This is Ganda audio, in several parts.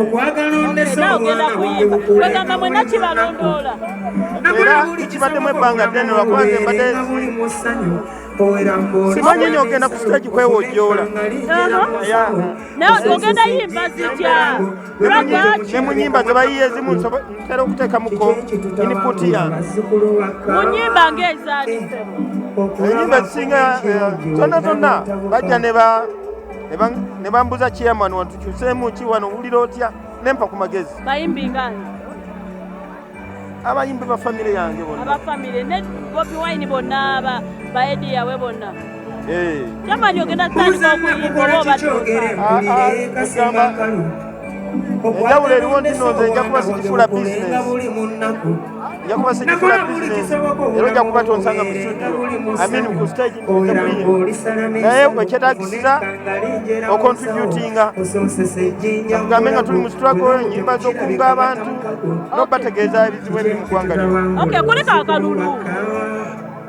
okwagala ondese omwana wange mukulagamba mwena kibalondoola era kibaddemu ebbanga ddene lwakuba nze mbadde simanyi nyo ogenda ku stage kwewojoola ogenda yimba zitya ne mu nyimba zebayiye ezimu ntera okuteekamuko input yange mu nyimba ng'ezaali enyimba zisinga eh, zonna zonna bajja ne ba ne bambuza chairman wantukyuseemu ki wano owulira otya nempa ku magezi bayimbi ngani abayimbi ba famire yange bonna aba famire ne bobi wine bonna aba baedi yawe bonna eh. chairman ogenda kutandika okuyimba oba obatugamba enjawulo eriwo nti nonze nja kuba sikifuula bizinesi nja kuba sijifuna bizinesi era ojja kuba tonsanga mu studio amini ku stage naye ekyetagisiza okontributinga akugambe nga tuli mu struggle enyimba z'okunga abantu nokubategeeza ebizibu ebiri mu ggwanga lyo kuleka akalulu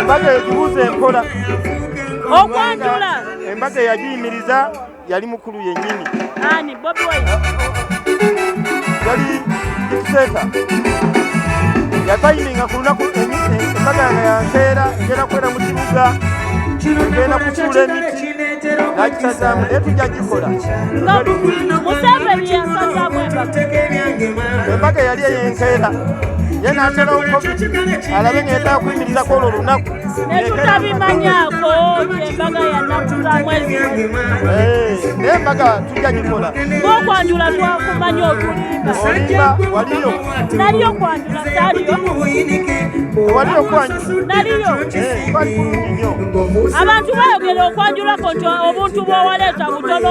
embaga egibuuza enkola okwanjula embaga eyagiyimiriza yali mukulu yennyini ani bobi wine yali dikiteeta yatayiminga ku lunaku embaga nga yankeera ngenda kwera mu kibuga ngenda kusuula emiti nakisazaamu naye tujja gikola embaga yali eyenkeera ye natera covid alabe ngenda kuyimirizako olwo olunaku netutabimanyako embaga yanakusamwezi eh, naye embaga tujja gikola ngokwanjula twakumanya otulimba waliyo naliyo kwanjula saliyo waliyo kwanjula naliyo eh, abantu bayogera okwanjulako nti obuntu bwowaleeta butono